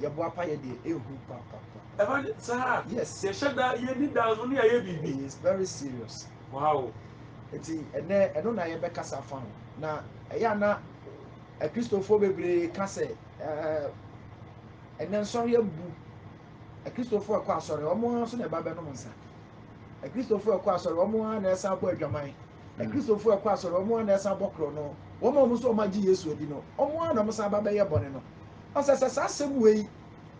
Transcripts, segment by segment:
Yɛ boapa yɛ deɛ ehu papapa. Ɛba ne saa. Yes. Yɛ hyɛ da yɛ ni da nso ne yɛ ayɛ biribi. He is very serious. Wow. Nti ɛnɛ ɛno na yɛ bɛ kasa fa ho na ɛyɛ a na akristofoɔ bebree ka sɛ ɛɛ ɛnɛ nsɔre abu akristofoɔ ɛkɔ asɔre wɔn ara nso na ɛba bɛ nom nsa akristofoɔ ɛkɔ asɔre wɔn ara na ɛsan bɔ adwaman. Na Kristofo a ɛkɔ asɔre, wɔn ara na ɛsan bɔ korɔn no, wɔn a wɔn nso wɔagye Yesu adi no, wɔn ara na wɔsan ba bɛyɛ bɔne no. Ɔsɛ sɛ saa asɛm wei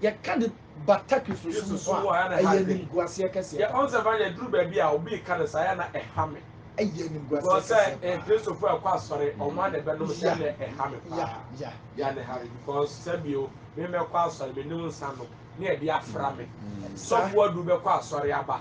yɛka de bata Kristosom so a, ɛyɛ animguaseɛ kɛseɛ paa. Ɔnsɛ fa yɛduru baabi a obi reka no saa yɛ na ɛha me. Ɛyɛ animguaseɛ kɛseɛ paa. Because sɛ Kristofo a ɛkɔ asɔre, wɔn ara na ɛbɛnom sɛ na ɛha me paa. Yɛ na ɛha me because sɛbio me mɛkɔ asɔre, menim nsa nom ne ɛde afra me. Sɔfo aduru bɛkɔ asɔre aba.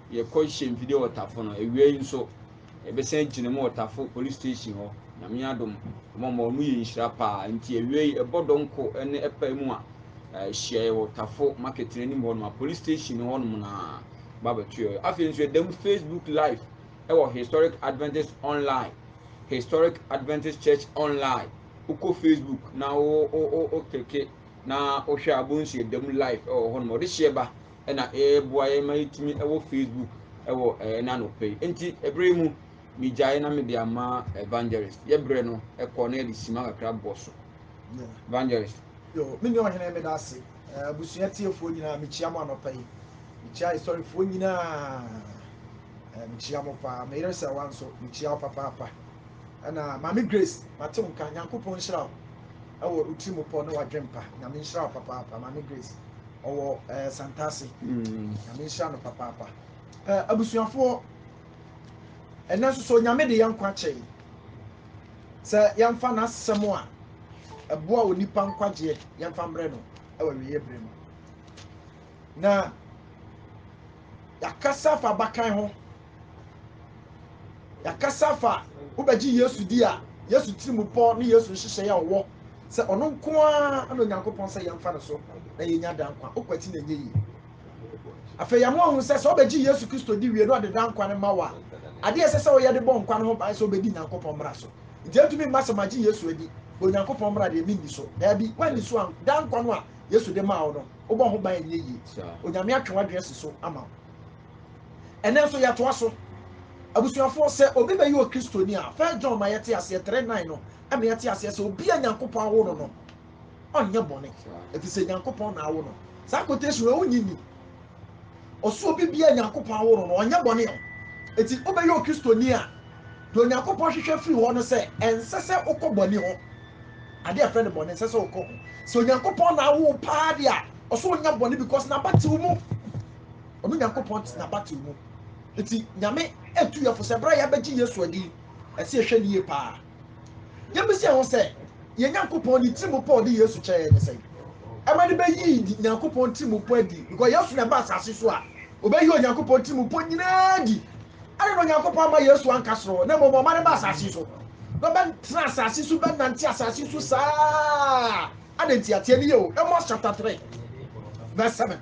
yɛkɔ hyɛ mfidie wɔ tafo no awia yi nso yɛbɛsan gyina mu wɔ tafo police station hɔ nyame adom ɔmo ɔmo ɔmo yɛ nhyira paa nti awia yi ɛbɔ dɔnko ɛne ɛpa mu a ɛhyia yɛ wɔ tafo market no anim hɔ nom a police station hɔ nom na ba bɛto yɛ afei nso yɛda mu facebook live ɛwɔ historic adventist online historic adventist church online wokɔ facebook na wo wo wo klike na wohwɛ a bonsu yɛda mu live ɛwɔ hɔ nom ɔde hyɛ ba na ɛreboa yɛn ma yɛtumi wɔ facebook wɔ ɛna anɔpɛ yi nti ɛberɛ mu megyae na mede ama evangelist yɛbrɛ no ɛkɔ na yɛde sima kakra bɔ so evangelist yo me ne ɔhene meda ase abusua tiefoɔ nyinaa mekyia mo anɔpa yi mekyia asɔrefoɔ nyinaa mekyia mo paa meyere sɛ wa nso mekyia wo papaapa ɛna maame grace mate wo nka nyankopɔn nhyira wo ɛwɔ Otirimupɔ ne Wadwempa. Nyame nhyira wo papaapa. Maame Grace, ɔwɔ ɛɛ eh, Santase. Mm. Nyame nhyira no papaapa. Ɛɛ eh, abusuafoɔ, ɛnɛ nso so Nyame de yɛn nkwa kyɛe. Sɛ yɛmfa n'asɛm a ɛboa onipa nkwagyeɛ yɛmfa mbrɛ no ɛwɔ awieeɛ berɛ mu. Na yɛakasa afa abakan ho. Yɛakasa afa wobɛgye Yesu di a, Yesu tirimupɔ ne Yesu nhyehyɛe a ɔwɔ sɛ ɔno nko ara na Onyankopɔn sɛ yɛmfa no so na yɛnya daa nkwa. Wokwati na ɛnyɛ yie. Afei yɛama wahu sɛ sɛ wobɛgye Yesu Kristo di wie na ɔde daa nkwa no ma wo a, adeɛ a ɛsɛ sɛ woyɛ de bɔ nkwa no ho ban sɛ wobɛdi Nyankopɔn mmara so. Nti ɛntumi mma sɛ magye Yesu adi, Onyankopɔn mmara deɛ menni so. Daabi, woanni so a, daa nkwa no a Yesu de maa wo no, wobɔ ho ban ɛnyɛ yie onyame atwe w'adwene asi so ama wo ɛnɛ nso yɛtoa so abusuafoɔ sɛ obi bɛyɛ okristoni a first john ma yɛte aseɛ 3 9 no ɛma yɛte aseɛ sɛ obi a nyankopɔn awo no no ɔnyɛ bɔne ɛfiri sɛ nyankopɔn na awo no saa quotation wɔ wonyi ni ɔso obi bia nyankopɔn awo no no ɔnyɛ bɔne ɔ ɛti wobɛyɛ okristoni a deɛ onyankopɔn hwehwɛ firi hɔ no sɛ ɛnsɛ sɛ wokɔ bɔne ho ade a ɛfrɛ no bɔne ɛsɛ sɛ wokɔ ho sɛ onyankopɔn na awo paa de a ɔsɛ onya bɔne because n'abatew mu ɔno nyankopɔn te n'abatew mu nti nyame atu yɛfo sɛ berɛ a yɛabɛgye yesu adi ɛsɛ yɛhwɛ ne yie paa yɛbɛsi ɛho sɛ yɛn nyankopɔn ne tirim pɔ ɔde yesu kyɛɛ ne sɛ ɛma ne bɛyii nyankopɔn tirim pɔ adi because yesu na ɛba asase so a obɛyi onyankopɔn tirim pɔ nyinaa di Adɛn na Onyankopɔn amma Yesu anka soro hɔ, na mmom ɔma no baa asase so, na ɔbɛtenaa asase so bɛnante asase so saa? Adɛn ntia? Tie no yie o, Amos chapter three verse seven.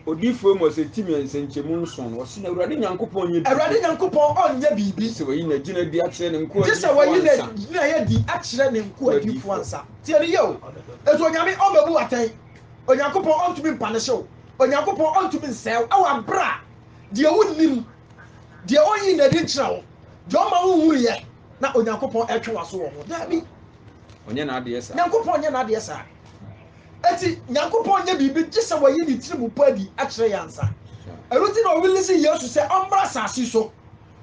Odiyifo Amos timii nsɛnkyerɛmu nson no, ɔse, Na Awurade Nyankopɔn nyɛ biribi. Awurade Nyankopɔn ɔnyɛ biribi. Gye sɛ wayi n'agyina adi akyerɛ ne nkoa adiyifoɔ ansa. Gye sɛ wayi n'agyinaeɛ adi akyerɛ ne nkoa adiyifoɔ ansa. Tie no yie o, Nso Onyame ɔmmɛbu wo atɛn. Onyankopɔn ɔntumi mpanehye wo. Onyankopɔn ɔntumi nsɛe wo wɔ aberɛ a. deɛ wonnim, deɛ ɔnyi n'adi nkyerɛ wo, deɛ ɔma wonhunuiɛ na Onyankopɔn ɛtwe w'aso wɔ ho. Daabi. Ɔnyɛ n'adeɛ saa. Nyankopɔn nyɛ n'adeɛ saa. Eti Nyankopɔn nyɛ biribi gye sɛ wɔyi ne tiri mu po adi akyerɛ yɛ ansa. Ɛno nti na ɔwilisi Yesu sɛ ɔmmra asase so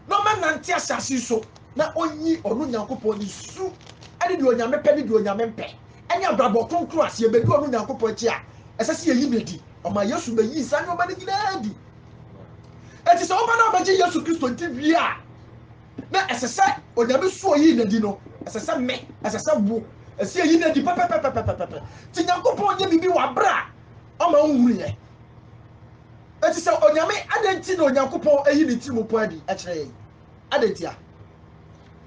na ɔmɛnante asase so na ɔnyi ɔno Nyankopɔn ne su ɛne deɛ Onyame pɛ ne deɛ Onyame mpɛ ɛne abrabɔ kronkron a sɛ yɛbɛdi ɔno Nyankopɔn akyi a ɛsɛ sɛ yɛyi no adi. Ɔma Yesu bɛyii saa nneɛma no nyinaa adi. Enti sɛ woba na wobɛgye Yesu Kristo nti wie a, na ɛsɛ sɛ Onyame so ɔyii n'adi no, ɛsɛ sɛ me, ɛsɛ sɛ wo, ɛsɛ yɛyi n'adi pɛpɛpɛpɛpɛpɛ. Nti Nyankopɔn nyɛ biribi wɔ aberɛ a ɔma wohunuiɛ. Enti sɛ Onyame, adɛn nti na Onyankopɔn ayi ne ntirimu pɔ adi akyerɛ yɛn? Adɛn ntia?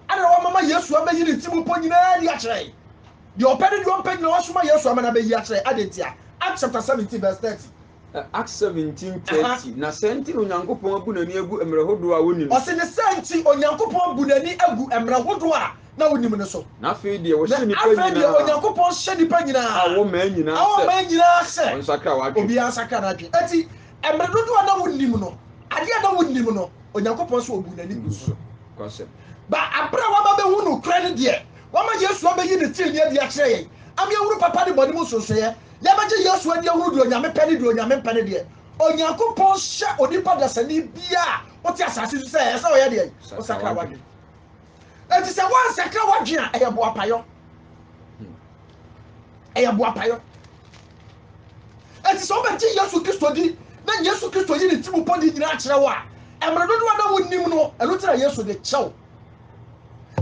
Adɛn na wamama Yesu abɛyi ne ntirimu pɔ nyinaa adi akyerɛ yɛn? Deɛ ɔpɛ ne deɛ ɔmpɛ nyinaa wasoma Yesu ama no abɛyi akyerɛ. Adɛn ntia? Acts chapter seventeen verse thirty. Acts seventeen thirty, Na saa nti na Onyankopɔn abu n'ani agu mmerɛ hodoɔ a wɔnnim no so. Ɔse ne saa nti Onyankopɔn abu n'ani agu mmerɛ hodoɔ a na wɔnnim no so. Na afei deɛ ɔhyɛ nnipa nyinaa. Na afei deɛ Onyankopɔn hyɛ nnipa nyinaa. A wɔ mmaa nyinaa sɛ. A wɔ mmaa nyinaa sɛ. Wɔnsakra wɔn adwene. Obiara nsakra n'adwene. Enti mmerɛ dodoɔ a na wɔnnim no, adeɛ a na wɔnnim no, Onyankopɔn se ɔbuu n'ani guu so. Nokwasɛm. Ba aberɛ a wɔaba bɛhu nokorɛ no deɛ. Wɔama Yesu abeyi ne trenee adi akyerɛ yɛn, ama yɛahunu papa ne bɔne mu nsonsonoeɛ. Yɛbɛgye Yesu adi ahunu deɛ Onyame pɛ ne deɛ Onyame mpɛ ne deɛ. Onyankopɔn hyɛ onipa dasani biara a ɔte asase so sɛ ɛyɛ sɛ ɔyɛ deɛn? Ɔsakra w'adwene. Enti sɛ woansakra w'adwene a, ɛyɛ boapayɔ. Ɛyɛ boapayɔ. Enti sɛ wobɛgye Yesu Kristo di na Yesu Kristo yi ne ti mu pɔde nyinaa kyerɛ wo a, mmerɛ dodoɔ na wonnim no, ɛno nti na Yesu de kyɛw.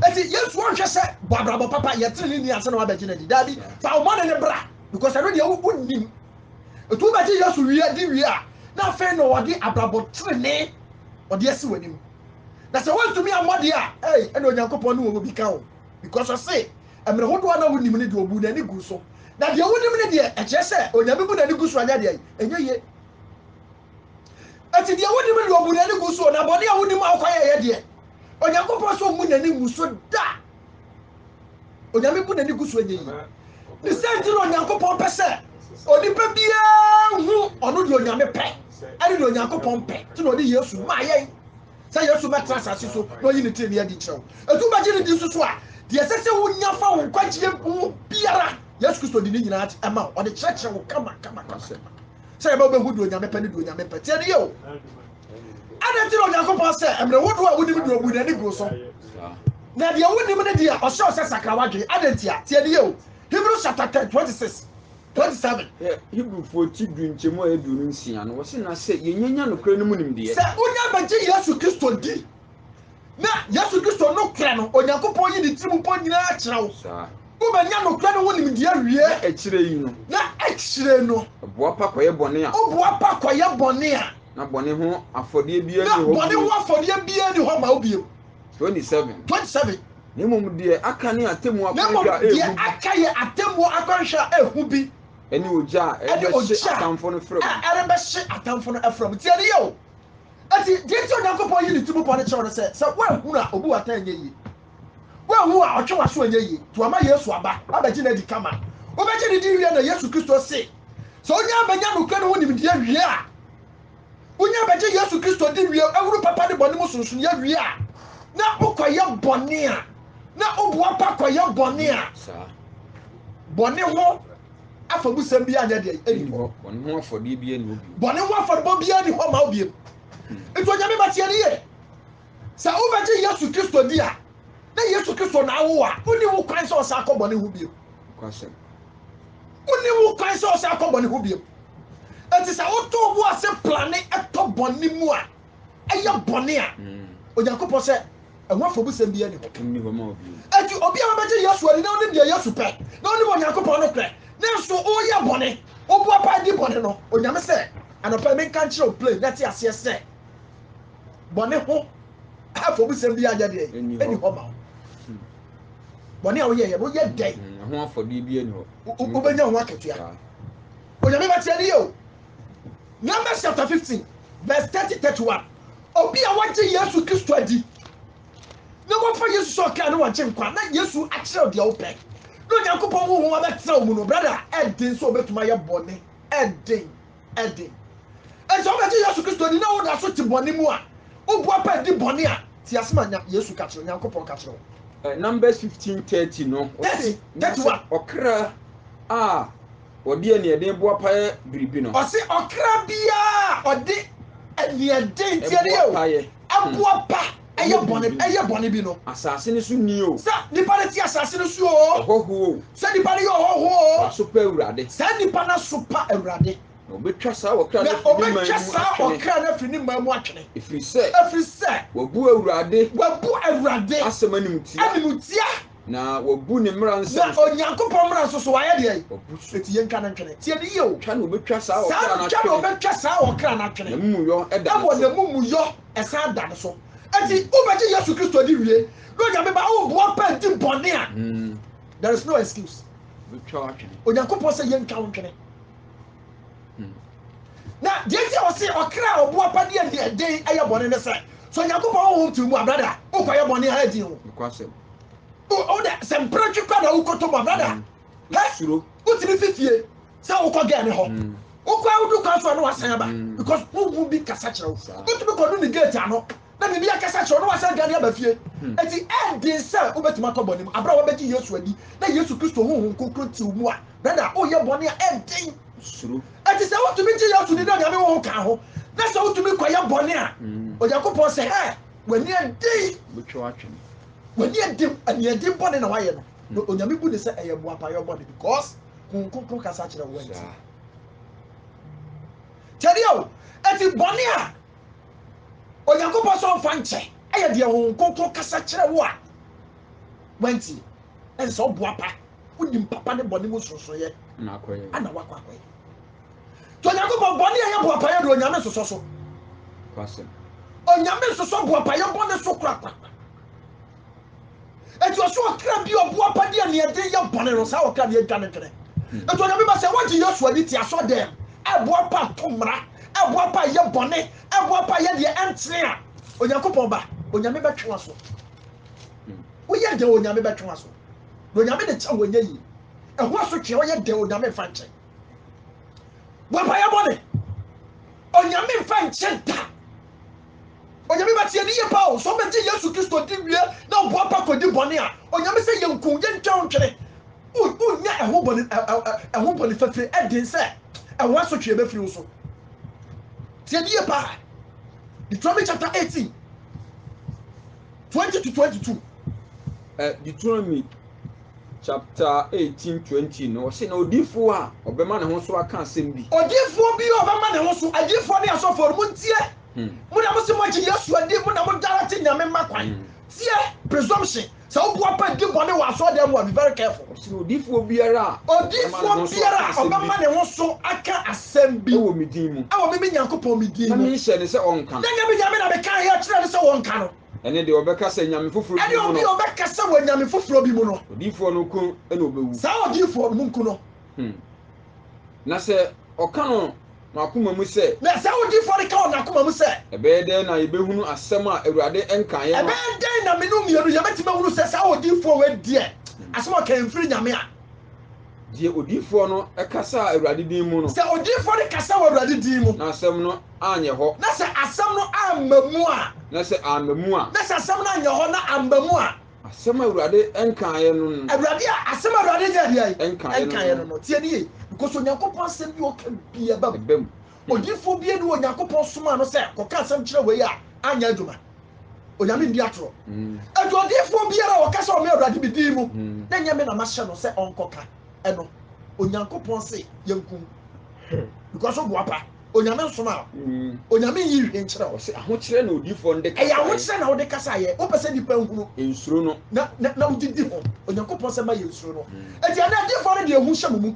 ɛti yesu ɔnhwɛ sɛ bɔ abrabɔ papa yɛtene ne ni ase na wabɛgye no adi daabi fa ɔmɔne ne bra because ɛno deɛ wonim ɛti wobɛgye yesu wie adi wie a na afei na ɔde abrabɔ tenene ɔde asi w'anim na sɛ wontumi ammɔde a ei ɛna onyankopɔn ne wɔ bi ka o because ɔse mmerɛ hodoɔ na wonim ne deɛ ɔbu n'ani gu so na deɛ wonim ne deɛ ɛkyerɛ sɛ onyame bu n'ani gu so anyɛ deɛ ɛnyɛ yie Enti deɛ wonim deɛ ɔbu n'ani gu soɔ, na bɔne a wonim a wokɔ yɛyɛ deɛ, Onyankopɔn so mmu n'ani ngu so da. Onyame bu n'ani gu so ɛnyɛ yi. Ne sɛ nti na Onyankopɔn pɛ sɛ onipa biara hu ɔno deɛ Onyame pɛ ɛne deɛ Onyankopɔn pɛ nti na ɔde Yesu maa yɛn sɛ Yesu mɛtra asase so na ɔyi ne tirinwi adi nkyerɛ wo. Etu bɛgye ne di soso a deɛ ɛsɛ sɛ wonya fa wo nkwagyeɛ ho biara Yesu Kristo de ne nyinaa ɛma wo ɔde kyerɛkyerɛ wo kama kama kama. sɛ yɛbɛ wobɛhu deɛ onyame pɛ ne deɛ onyame pɛ tiɛ no yɛ o ɛna nti na onyankopɔn sɛ mmerɛ wodoɔ a wonim deɛ ɔbu n'ani guo so na deɛ wonim no deɛ ɔhyɛ ɔsɛ sakra wadwene adɛ nti a tiɛ no yɛ o hebrew chapter 10 26 27 hebrewfoɔ ti du nkyɛmu a ɛdu no nsia no wɔse na sɛ yɛnyanya nokorɛ no mu nimdeɛ sɛ wonya bɛgye yesu kristo di Na Yesu Kristo nokorɛ no, Onyankopɔn yi ne tirim pɔ nyina ara kyerɛ wo. Saa. Wobɛnya nokorɛ no ho nimdeɛ awie. Na akyire yi no. Na akyire no. Boapa kɔyɛ bɔne a. Woboapa kɔyɛ bɔne a. Na bɔne ho afɔdeɛ biara nni hɔ bio. Na bɔne ho afɔdeɛ biara nni hɔ ma wo bio. 27. 27. Na mmom deɛ aka ne atemmuo akwanhwɛ a ɛyɛ hu bi. Na mmom deɛ aka yɛ atemmuo akwanhwɛ a ɛyɛ hu bi. Ɛne ogya a ɛrebɛhye atamfo no fra mu. Ɛne ogya a ɛrebɛhye atamfo no fra mu. Tie no yie o. Enti, deɛ enti a Onyankopɔn yi ne ti mu bɔne kyerɛ wo ne sɛ, sɛ woanhunu a, ɔbu wo atɛn ɛnyɛ yie. Woanhu a, ɔtwe w'aso ɛnyɛ yie. Nti wama Yesu aba abɛgye no adi kama. Wobɛgye no di wie na Yesu Kristo se, sɛ wonya bɛnya nokorɛ no ho nimdeɛ wie a, wonya bɛgye Yesu Kristo di wie, ahunu papa ne bɔne mu sonsonoeɛ wie a, na wokɔyɛ bɔne a, na woboapa kɔyɛ bɔne a, bɔne ho afɔbusɛm biara nyɛ deɛ ɛni hɔ bɔne ho afɔdeɛ biara ni hɔ bio bɔne ho afɔrebɔ biara ni hɔ ma wo bio nti onyame ma teɛ ne yie sɛ wobɛgye yesu kristo di a na yesu kristo na awo a wonni wo kwan sɛ ɔsa akɔ bɔne ho bio wonni wo kwan sɛ ɔsa akɔ bɔne ho bio ɛti sɛ wotɔ wo ase plane ɛtɔ bɔne mu a yɛ bɔne a, Onyankopɔn sɛ ɛho afɔbusɛm biara nni hɔ. Enti obi a ɔbɛgye Yesu adi na ɔnim deɛ Yesu pɛ na ɔnim Onyankopɔn no pɛ nanso ɔreyɛ bɔne, ɔbu apae di bɔne no, Onyame sɛ anɔpa yi menka nkyerɛ wo plain na te aseɛ sɛ bɔne ho afɔbusɛm biara nyɛ deɛ ɛni hɔ ma wo. Hmm. Bɔne a woyɛeɛ no woyɛ dɛn? Hmm, ɛho afɔdeɛ biara ni hɔ. Wobɛnya ho akatua. Onyame bɛteɛ ne yɛ o. Numbers chapter fifteen verse thirty thirty one obi a wagye Yesu Kristo adi na wafa Yesu sɛ ɔkra ne wɔgye nkwa na Yesu akyerɛw deɛ wopɛ na Onyankopɔn honhom abɛtena wo mu no brada ɛden sɛ obɛtumi ayɛ bɔne ɛden ɛden ɛsɛ wobɛgye Yesu Kristo adi na woda so te bɔne mu a woboa pa di bɔne a te ase ma Yesu ka kyerɛ Onyankopɔn ka kyerɛ wo eh, Numbers fifteen thirty no ɔse ɔkra a Wɔde aniɛden boapa yɛ biribi no. Ɔse ɔkra biara a ɔde aniɛden tiɛ no yɛ o, ɛboapa ɛyɛ bɔne ɛyɛ bɔne bi no. Asase no so ni o. Sɛ nipa no te asase no so o. Ɔhɔho o. Sɛ nipa no yɛ ɔhɔho o. W'aso pa Awurade. Saa nipa no aso pa Awurade. Na ɔbɛtwa saa ɔkra no afiri ne man mu atwene. Na ɔbɛtwa saa ɔkra no afiri ne man mu atwene. Ɛfiri sɛ. Ɛfiri sɛ. Wabu Awurade. Wabu Awurade. Asɛm animtia. Animtia. Na wabu ne mmara nsɛm so. Na Onyankopɔn mmara nso so wayɛ deɛ? Wabu so. Eti yɛnka no ntwene. Tie ne yie o. Twa na obetwa saa ɔkra no atwene. Saa no twa na obetwa saa ɔkra no atwene. N'amumuyɔ da ne so. Ɛwɔ n'amumuyɔ ɛsan da ne so. Eti wobɛgye Yesu Kristo di wie na Onyame ba awo boa pɛ di bɔne a, hmm. there is no excuse. Obetwa atwene. Onyankopɔn sɛ yɛntwa wo ntwene. na deɛ nti a ɔse ɔkra a ɔbo apadeɛ a deɛ den ɛyɛ bɔne ne sɛ sɛ onyankopɔn honhom te mu a brada wokɔyɛ bɔne ha adi ho wodɛ sɛ mpere twe kɔ na wokɔtɔ mu a brada mm. wotumi fifie sɛ wokɔ gɛ ne hɔ mm. wokɔ a wodu kwan so a na wasan aba mm. because honhom bi kasa kyerɛ wo wotumi kɔdu ne gate ano Na biribi akasa kyerɛ wo na woasan dwane aba fie. Enti ɛnde sɛ wobɛtumi atɔ bɔne mu aberɛ a woabɛgye Yesu adi na Yesu Kristo Honhom Kronkron te wo mu a, brada a woyɛ bɔne a ɛden. Suro. Enti sɛ wotumi gye Yesu di na Onyame Honhom ka ho na sɛ wotumi kɔyɛ bɔne a, Onyankopɔn sɛ hɛ, w'ani aden. Wobɛtwa wo atwene. W'ani aden, aniɛden bɔne na woayɛ no. Na Onyame bu no sɛ ɛyɛ boapayɔ bɔne because Honhom Kronkron kasa kyerɛ wo enti. Tiɛdeɛ o, enti bɔne a. Onyankopɔn sɛ ɔmfa nkyɛ ɛyɛ deɛ Honhom Kronkron kasa kyerɛ wo a wantie ɛne sɛ ɔboa pa wonim papa ne bɔne mu nsonsonoeɛ ana wakɔ akɔyɛ nti Onyankopɔn bɔne a ɛyɛ boapayɛ de Onyame nsosɔ so Onyame nsosɔ boapayɛ bɔne so korakora Enti ɔsɛ ɔkra bi a ɔboapa de aniɛden yɛ bɔne no, saa ɔkra no yɛdwa no dwene. Enti onyame ba sɛ wogye Yesu adi te asɔdɛm, ɛboapa to mmara, ɛboapa yɛ bɔne, ɛboapa yɛ deɛ ɛntene a, Onyankopɔn ba, onyame bɛtwe waso. Woyɛ dɛ onyame bɛtwe waso. Na onyame de kyɛ wɔnyɛ yie. Ɛho asotwe ɔyɛ dɛ onyame mfa nkyɛ. Boapa yɛ bɔne. Onyame mfa nkyɛ da. Onyame ba tie ne yɛ paa o, sɛ wobɛgye Yesu Kristo di wie na woboapa kɔdi bɔne a, Onyame sɛ yɛnku, yɛntwa wo ntwene, wonnya ɛho bɔne, ɛho bɔne fafire, ɛden sɛ ɛho asotweɛ bɛfiri wo so. Tie ne yɛ paa. Deuteronomy chapter 18, 20 to 22. Uh, Deuteronomy chapter eighteen twenty no ɔsi na odiifoɔ a ɔbɛma ne ho so aka asɛm bi. odiifoɔ bi a ɔbɛma ne ho so adiifoɔ ne asɔfoɔ no mo ntie hmm. mo na mo se mo agye yesu adi mo na mo darate nyame mma kwan hmm. tie presumption sɛ woboa pa di bɔne wɔ asɔre dɛm a be very careful. ɔsi odiifoɔ biara a odiifoɔ biara a ɔbɛma ne ho so aka asɛm bi ɛwɔ me din mu ɛwɔ me me nyankopɔn me din mu na menhyɛ ne sɛ ɔnka no na nyame nyame na meka yɛ kyerɛ ne sɛ wɔnka no Ɛne deɛ ɔbɛka sɛ nyame foforɔ bi mu no. Ɛne obi a ɔbɛka sɛ wɔ nyame foforɔ bi mu no. Odiyifoɔ no nko na ɔbɛwu. Saa odiyifoɔ no mu nko no. Hmm. Na sɛ ɔka no n'akoma mu sɛ. Na saa odiyifoɔ no ka wɔ n'akoma mu sɛ. Ɛbɛyɛ dɛn na yɛbɛhunu asɛm a Awurade nkaeɛ no. Ɛbɛyɛ dɛn na mene mmienu yɛbɛtumi ahunu sɛ saa odiyifoɔ wei deɛ asɛm a ɔkae mfiri nyame a. Deɛ odiyifoɔ no kasa Awurade din mu no. Sɛ odiyifoɔ no kasa wɔ Awurade din mu. Na asɛm no anyɛ hɔ. Na sɛ asɛm no amma mu a. Na sɛ amma mu a. Na sɛ asɛm no anyɛ hɔ na amma mu a. Asɛm a Awurade nkaeɛ no no. Awurade a asɛm a Awurade nyɛ deɛ. Nkaeɛ no no. Tie no yie. Because Onyankopɔn asɛm bi a ɔka biara ba mu. Odiyifo bi ne Onyankopɔn somaa no sɛ kɔka asɛm kyerɛ wei a anyɛ adwuma. Onyame ndi atoro. Enti odiyifo biara a ɔka sɛ ɔma Awurade me din mu na ɛnyɛ me na mahyɛ no sɛ ɔnkɔka ɛno, Onyankopɔn se yɛnku no. Because woboapa. Onyame nsomaa wo. Onyame nyi nhwee nkyerɛ wo. Ɔse ahokyerɛ na odiyifoɔ no de kasaeɛ. Ɛyɛ ahokyerɛ na wode kasaeɛ. Wopɛ sɛ nnipa nhunu. Nsuro no. Na wode di ho. Onyankopɔn sɛ ma yɛnsuro no. Enti ɛnnɛ adiyifoɔ no de ehu hyɛ mo mu.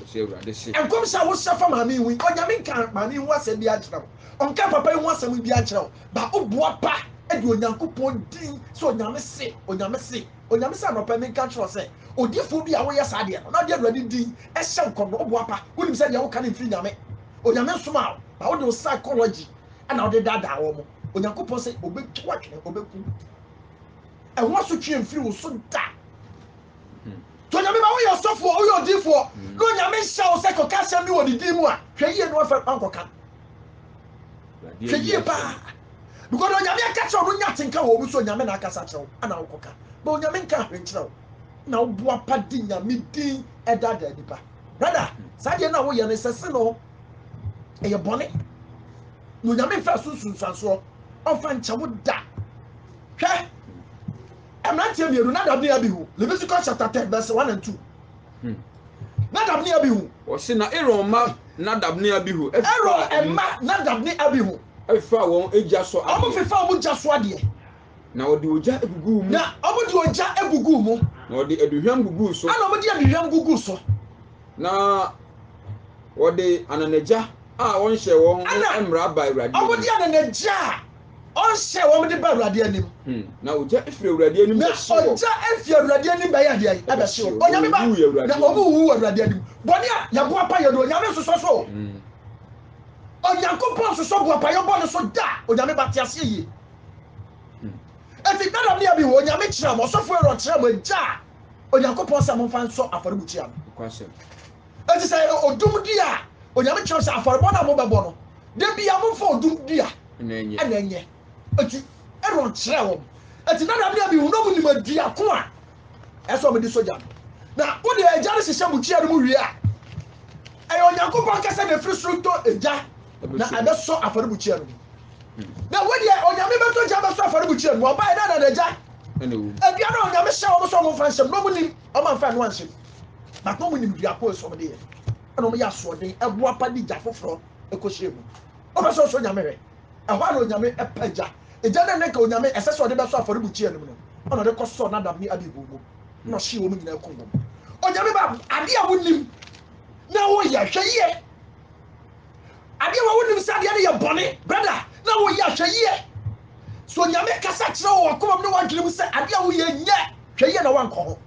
Ɔse Awurade se. Nkɔmhyɛ a wohyɛ fa maame yi ho yi, Onyame nka maame yi ho asɛm biara nkyerɛ wo, ɔnka papa yi ho asɛm biara nkyerɛ wo, ba wo boa pa de Onyankopɔn din sɛ Onyame se, Onyame se, Onyame se anɔpa yi menka nkyerɛ wo sɛ, odiyifoɔ bi a woyɛ saa deɛ no na wode Awurade din hyɛ nkɔm no, wo boa pa, wonim sɛ deɛ woka no mfiri Nyame, Onyame nsomaa wo, ba wode wo psychology na wode daadaa wɔn, Onyankopɔn se ɔbɛtwa wo atwene, ɔbɛku wo, ɛho asotweɛ mfiri wo so da. Sɛ Onyame ma woyɛ ɔsɔfoɔ, woyɛ odiifoɔ, mm. na Onyame nhyɛ wo sɛ kɔka asɛm bi wɔ ne din mu a, hwɛ yie na wafa wankɔka. Hwɛ yie paa. Because Onyame aka kyerɛ wo no nya tenka wɔ mu sɛ Onyame na akasa kyerɛ wo ana wokɔka. Na Onyame nka ahwɛ nkyerɛ wo. Na woboa pa di Nyame din ɛdaadaa nipa. Brada, saa deɛ no a woyɛ no sɛ se no ɛyɛ bɔne. Na Onyame mfa so nsunsuansoɔ ɔmfa nkyɛ wo da. Hwɛ Mmeranteɛ mmienu, Nadab ne Abihu, Leviticus chapter ten verse one and two. Hmm. Nadab ne Abihu. Wɔsi na Aaron mma Nadab ne Abihu. Aaron mma Nadab ne Abihu. Ɛfefa wɔn egya so adeɛ. Wɔn fefa wɔn egya so adeɛ. Na wɔde ogya eguguu mu. Na wɔde ogya eguguu mu. Na wɔde aduhwam guguu so. Ɛna wɔde aduhwam guguu so. Na wɔde ananagya a wɔnhyɛ wɔn ho mmara ba awurade. Wɔde ananagya a. ɔnhyɛ a wɔde ba awurade anim. Hmm. na ogya efiri awurade anim na ogya efi awurade anim bɛyɛ adeɛ yi ɛbɛhye o onyame ba na ɔmu wu wɔ awurade anim bɔne a yɛbo apayɛ no onyame nsosɔ so hmm. onyankopɔn nsosɔ bo apayɛ bɔ ne so da onyame ba te aseɛ yie hmm. eti dada ne abi wɔ onyame kyerɛ mo ɔsɔfo ɛrɔ kyerɛ mo agya onyankopɔn sɛ momfa nsɔ afɔrebukyia no Enti sɛ ɛyɛ odum dua a, Onyame kyerɛ sɛ afɔrebɔ no a mobɛbɔ no, da biara momfa odum dua na ɛnyɛ. Enti Aaron kyerɛɛ wɔn. Enti Nadab ne Abihu na wɔnim dua ko a ɛsɛ sɛ wɔde sɔ gya no. Na wode gya no hyehyɛ bukyia no mu wie a, ɛyɛ Onyankopɔn ankasa na ɛfiri soro tɔ gya na ɛbɛsɔ afɔrebukyia no mu. Na wo deɛ Onyame bɛtɔ gya bɛsɔ afɔrebukyia no mu. Ɔbaeɛ na anadagya adua no a Onyame hyɛ wɔn sɛ wɔmfa nhyɛ mu no, wɔnim. Ɔma mfa ɛno anhyɛ mu. But na ɔmo nim dua ko esɔm de yɛ. Ɛna ɔmo yɛ asoɔden, ɛbo apa de gya foforɔ ɛkɔ hyɛ mu. Ɔpɛ sɛ ɔsɔ onyame hwɛ. Ɛhɔ ara na onyame ɛpɛ gya. Egya no a na nka onyame ɛsɛ sɛ ɔde bɛsɔ afɔrebukyia no mu no, ɛna ɔde kɔ sɔɔ Nadab ne Abihu mu. Ɛna ɔhyee wɔn nyinaa kum wɔn. Onyame ba, adeɛ a wonim na woyɛ, hwɛ yie. Adeɛ wɔ wonim sɛ adeɛ no yɛ bɔne brada na woyɛ a hwɛ yie. So Nyame kasa kyerɛ wo wakoma mu ne wadwene mu sɛ adeɛ a woyɛ nyɛ hwɛ yie na wankɔ ho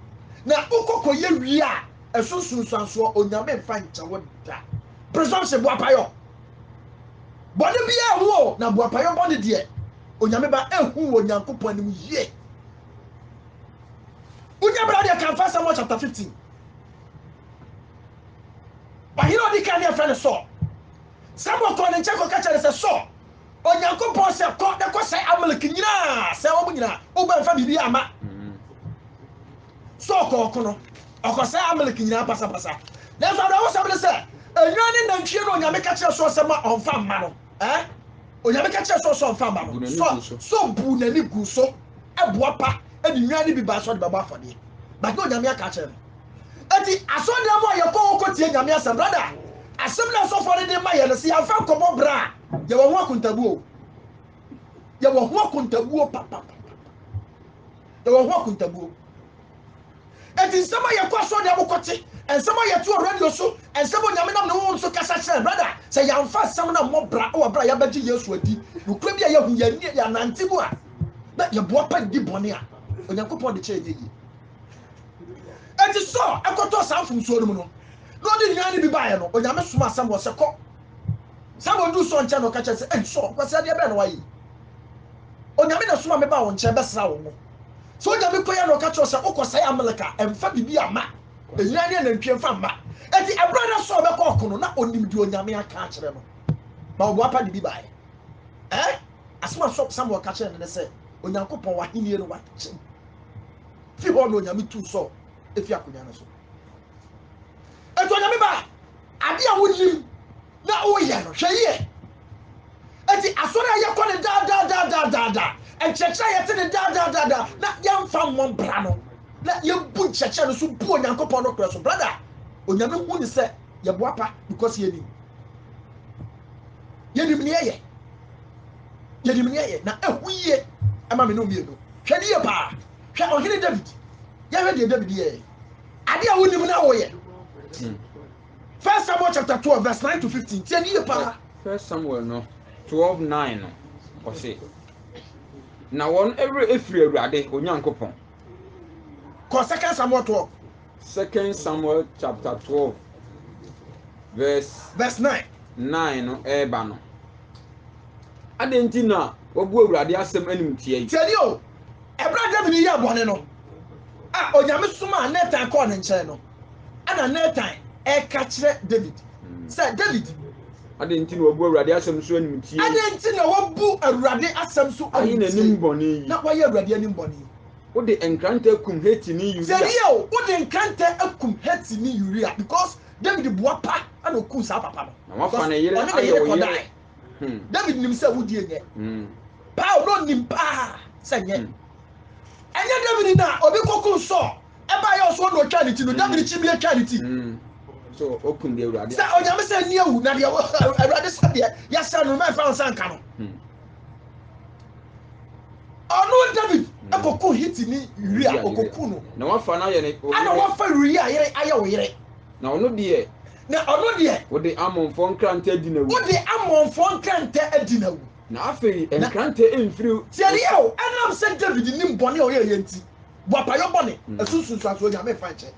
na wokɔ kɔ yɛ wie a ɛso nsunsuansoɔ Onyame mfa nkyɛ wo da. Presumption boapayɔ bɔne biara ɛho o na boapayɔ bɔne deɛ Onyame ba ɛhu wɔ Nyankopɔn anim yie. Wonya bra deɛ kan 1 Samuel chapter 15. Ɔhene a ɔdi kan no yɛfrɛ no Saul. Samuel kɔɔ ne nkyɛn kɔka kyerɛɛ no sɛ, Saul, Onyankopɔn sɛ, 'Kɔ na kɔsɛe Amalek nyinaa, sɛe wɔn nyinaa. Wobɛ mfa biribi amma. Saul kɔɔ ɔko no, ɔkɔsɛe Amalek nyinaa pasapasa. Nanso awerɛhosɛm ne sɛ, nnwan ne nantwie na Onyame ka kyerɛɛ Saul sɛ ma ɔmfa mma no. Eh? Onyame ka kyerɛ sɛ sɛ ɔmfa ma no. Sɛ sɛ ɔbu n'ani gu so ɛboa pa ɛde nnwan no bi baa sɛ ɔde bɛbɔ afɔdeɛ. But na onyame aka kyerɛ no. Eti asɔdan mu a yɛkɔ hɔ kɔtie nyame asɛm brada. Asɛm na asɔfoɔ no de ma yɛ no sɛ yɛmfa nkɔbɔ bra a yɛwɔ ho akontabuo. Yɛwɔ ho akontabuo papapapa. Yɛwɔ ho akontabuo. Enti nsɛm a yɛkɔ asɔrdan mu kɔte, nsɛm a yɛte wɔ radio so, nsɛm a Onyame nam ne honhom so kasa kyerɛ yɛn, brada, sɛ yɛamfa nsɛm no ammɔ bra wɔ bere a yɛabɛgye Yesu adi, nokorɛ bi a yɛahu, yɛanni, yɛannante mu a, na yɛboapa nni bɔne a Onyankopɔn de kyɛ yɛn no yie. Enti Saul kɔtɔɔ saa mfomsoɔ no mu no, na ɔde nnwan no bi baeɛ no, Onyame somaa Samuel sɛ, Kɔ. Samuel oduu Saul nkyɛn na ɔka kyerɛ no sɛ, Ei Saul, nkwasiadeɛ bɛn na woayɛ yi? Onyame na ɛsomaa me baa wo nkyɛn bɛsraa wo ngo. Sogya bi kɔeɛ na ɔka kyerɛ sɛ, Wokɔsɛe Amalek a, mfa biribi mma, nnwan ne anantwie mfa mma. Enti ɛberɛ a na Saul bɛkɔ ɔko no, na ɔnim deɛ Onyame aka akyerɛ no, na ɔboa pa de bi baeɛ. Ɛ? Asɛm a Samuel ka kyerɛɛ no ne sɛ, Onyankopɔn, w'ahennie no wakyem. Fi hɔ na Onyame tuu Saul fi akonnwa no so. Enti Onyame ba, adeɛ a wonim na woyɛ no, hwɛ yie. Enti asɔre a yɛkɔ no daa daa daa daa daa daa, nkyerɛkyerɛ a yɛte no daa daa daa daa, na yɛmfa mmɔ mbra no, na yɛbu nkyerɛkyerɛ no so bu Onyankopɔn nokorɛ so. Brada, Onyame hu ne sɛ yɛboapa because yɛnim. Yɛnim neɛ yɛ. Yɛnim neɛ yɛ, na ɛhu yie ɛma me ne mmienu. Hwɛ ne yie paa. Hwɛ ɔhene David. Yɛhwɛ deɛ David yɛɛ. Adeɛ a wonim no a woyɛ. Hmm. First Samuel chapter twelve verse nine to fifteen tiɛ ni yɛ paa. First Samuel no twelve nine no ɔsi na wɔn ɛwura efiri awurade onyankopɔn. Kɔ second Samuel twelve. Second Samuel chapter twelve verse. Verse nine. Nine no ɛɛba no. Adé nti na wabu awurade asɛm anim tiɛ yi. Tiɛ ni o, ɛbɛrɛ David yɛ abɔne no a onyame soma a Nathan kɔɔ ne nkyɛn no. ɛna Natan ɛka kyerɛ David hmm. sɛ David. Adɛn nti na wabu Awurade asɛm so animtie? Adɛn nti na wabu Awurade asɛm so animtie? Ayi n'anim bɔne yi. Na wayɛ Awurade anim bɔne yi. Wode nkrantɛ akum Hetini Uria. Sɛdeɛ o, wode nkrantɛ akum Hetini Uria because David boa pa ɛna okum saa papa no. Na wafa ne yere ayɛ wo yere. Hmm. David nim sɛ wudi enyɛ. Hmm. Paul no nim paa sɛ nyɛ. Ɛnyɛ David na obi kɔkum Saul. Ɛbaa yɛ ɔsoɔ na ɔtwaa ne ti no, Dawid kyimiiɛ twaa ne ti. So ɔkum deɛ Awurade Sɛ onyame sɛ nni awu, na deɛ Awurade sɛ deɛ yɛsɛ no, mɛmfa wo nsa nka no. Ɔno David ɛkɔku Hiti ni Uria, ɔkɔku no. Na wafa no ayɛ ne Ana wafa Uria yere ayɛ wo yere. Na ɔno deɛ na ɔno deɛ wode amonfoɔ nkrantɛ adi na wu wode amonfoɔ nkrantɛ adi na wu na afei nkrantɛ mfiri tiɛdeɛ o ɛnam sɛ david nim bɔne a ɔyɛ yɛ nti boapayɔ bɔne, ɛso nsunsuansoɔ Onyame mfa nkyɛ.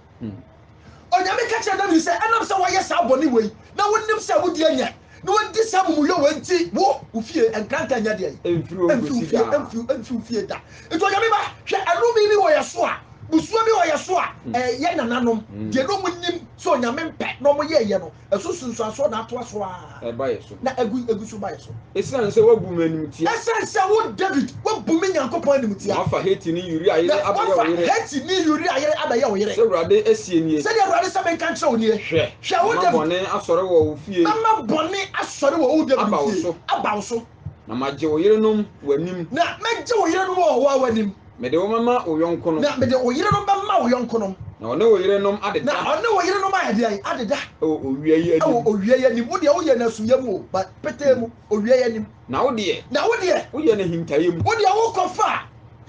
Onyame ka kyerɛ David sɛ, ɛnam sɛ woayɛ saa bɔne wei, na wonim sɛ wo deɛ nyɛ, na woadi saa amumuyɔ wei nti, wo, wo fie, nkrantɛ nyɛ deɛ yi. Ɛmfiri wo fie, ɛmfiri wo fie da. Nti Onyame ba, hwɛ anome bi wɔ yɛ so a, busuo bi wɔ yɛ so a, ɛyɛ nananom, deɛ na wɔnim sɛ Onyame mpɛ na wɔyɛɛyɛ no, Ɛso sunsuansoɔ na atoa so ara. Ɛba yɛ so. Na ɛgu, ɛgu so ba yɛ so. Ɛsiane sɛ woabu me animtia. Ɛsiane sɛ wo, Dawid, woabu me Nyankopɔn animtia. Na woafa Hetini Uria yere abɛyɛ wo yere. Na woafa Hetini Uria yere abɛyɛ wo yere. Sɛ Awurade seɛ nie. Sɛdeɛ Awurade sɛ menka nkyerɛ wo nie. Hwɛ, mɛma bɔne asɔre wɔ wo fie. Mɛma bɔne asɔre wɔ wo, Dawid, fie. Aba wo so. Na magye wo yerenom w'anim. Na mɛgye wo yerenom wɔ ɔhoa w'anim. Mede wo mɛma wo yɔnkonom. Na mede wo yerenom bɛma wo yɔnkonom. Na ɔne wo yerenom adeda. Na ɔne wo yerenom ayɛ deɛn? Adeda. Wɔ owia yi anim. Wɔ owia yi anim. Wo deɛ woyɛ no asuiɛ mu o, but petee mu, owia yi anim. Na wo deɛ. Na wo deɛ. Woyɛ no ahintaeɛ mu. Wo deɛ wokɔfaa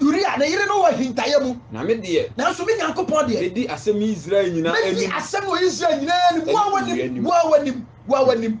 Uria ne yere no wɔ ahintaeɛ mu. Na me deɛ. Nanso me Nyankopɔn deɛ. Mɛdi asɛm yi Israel nyinaa anim. Mɛdi asɛm no wɔ Israel nyinaa anim. Wɔ w'anim, wɔ w'anim, wɔ w'anim.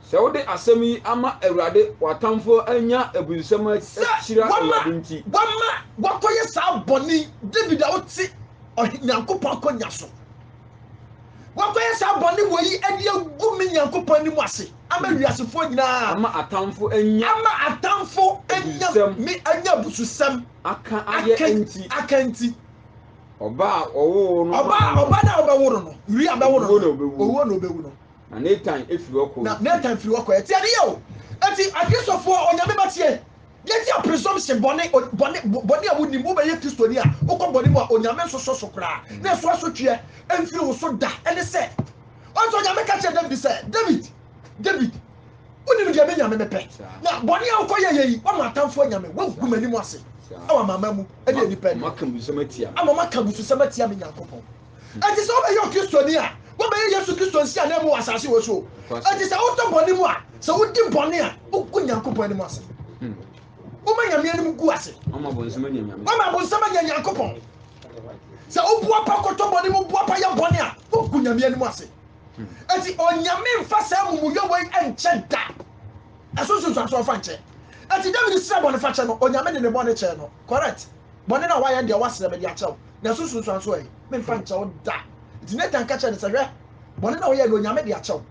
Sɛ wode asɛm yi ama Awurade, w'atamfoɔ anya abususɛm akyira Awurade nti. Sɛ wɔma wɔkɔyɛ saa bɔne yi, Dawid a ɔte ɔhe Nyankopɔn akonnwa so, wɔkɔyɛ saa bɔne wɔ yi de agu me Nyankopɔn anim ase ama wiasefoɔ nyinaa. Ama atamfo anya. Ama atamfo anya me anya abususɛm. Aka ayɛ nti. Aka nti. Ɔba a ɔwoo no. Ɔba ɔba no a ɔbɛworo no, wia bɛworo no, owuo na ɔbɛwu no. Na Natan firi hɔ kɔɔ Na Natan firi hɔ kɔɛ. Tie adeyɛ o! Enti Akristofoɔ, Onyame ma tie! Yɛtia presumption, bɔne, o, bɔne, bo, bɔne a wonim. Wobɛyɛ Kristoni a, wokɔ bɔne mu a, Onyame nsosɔ so koraa, na ɛso asotweɛ mfiri wo so da. Ɛne sɛ, ɔnso Onyame ka kyerɛɛ David sɛ, David, David, wonim deɛ me Nyame mepɛ. Na bɔne a wokɔ yɛyɛ yi, woama atamfoɔ Nyame, woagu m'anim ase wɔ amanaman mu, ɛne nnipa anim, ama wɔaka abususɛm atia me Nyankopɔn. Enti sɛ wobɛyɛ Okristoni a, wobɛyɛ Yesu Kristo nsiananmu wɔ asase wɔ so. Enti sɛ wotɔ bɔne mu a, sɛ wodi bɔne a, wogu Nyankopɔn anim ase. Hmm. Woma Nyame anim gu ase. Woma bonsam anya Nyankopɔn. Sɛ woboa pa kɔtɔ bɔne mu, boa pa yɛ bɔne a, wogu Nyame anim ase. Hmm. Enti Onyame mfa saa mumuyɔ wei nkyɛ da. Ɛso nsunsuanso ɔfa nkyɛ. Enti David srɛ bɔnefakyɛ no, Onyame de ne bɔne kyɛɛ no. Correct. Bɔne no a woayɛ no deɛ, woasrɛ me de akyɛ wo, nanso nsusuaa nso ɛ, memfa nkyɛ wo da. Enti Natan ka kyerɛɛ no sɛ, Hwɛ, bɔne no a woyɛe no, Onyame de akyɛ wo,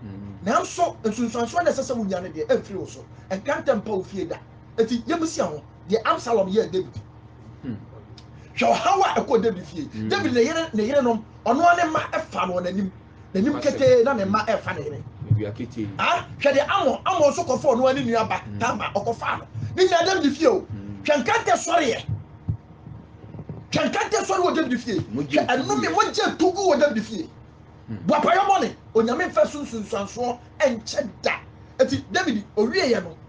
nanso nsunsuansoɔ no a ɛsɛ sɛ wonya no deɛ, ɛmfiri wo so, ɛnka ntɛm mpa wo fie da. Enti yɛmmisa ho deɛ Absalom yɛɛ Dawid. Hwɛ ɔhaw a ɛkɔɔ Dawid fie! Dawid ne yere, ne yerenom, ɔno ara ne mma faa no wɔn anim. n'anim ketee na ne mma refa ne yere. Ah, hwɛ deɛ Amon, Amon nso kɔfɔɔ no ne nua ba hmm. Tama, ɔkɔfaa no. Ne nyinaa David fie o. Hmm. Hwɛ nkantɛ sɔreɛ. Hwɛ nkantɛ sɔre wɔ David fie. Hwɛ ɛnome mogye tugu wɔ David fie. Hmm. Boapayɔ bɔne, onyame mfa sunsunsuansoɔ nkyɛ da. Eti David owieɛ no,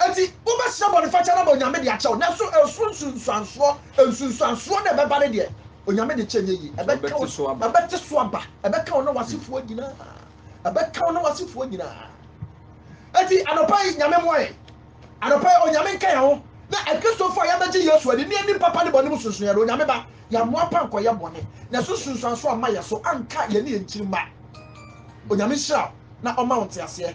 Enti wobɛsrɛ bɔnefakyɛ no ama Onyame de akyɛ wo, nanso ɛsoro nsunsuansoɔ, nsunsuansoɔ no a ɛbɛba no deɛ, Onyame de kyɛ nyɛ yie. Ɛbɛka wo, ɛbɛte so aba, ɛbɛka wo ne w'asefoɔ nyinaa, ɛbɛka wo ne w'asefoɔ nyinaa. Enti anɔpa yi, Nyame mmoa yɛn. Anɔpa yi, Onyame nka yɛn ho. Na Akristofoɔ a yɛabɛgye Yesu adi ne yɛnim papa ne bɔne mu sonsonoeɛ no, Onyame ba, yɛammoa pa nkɔyɛ bɔne, na ɛsoro nsunsuansoɔ amma yɛn so, anka yɛne yɛn nkyirimma. Onyame nhyira wo na ɔma wo nteaseɛ.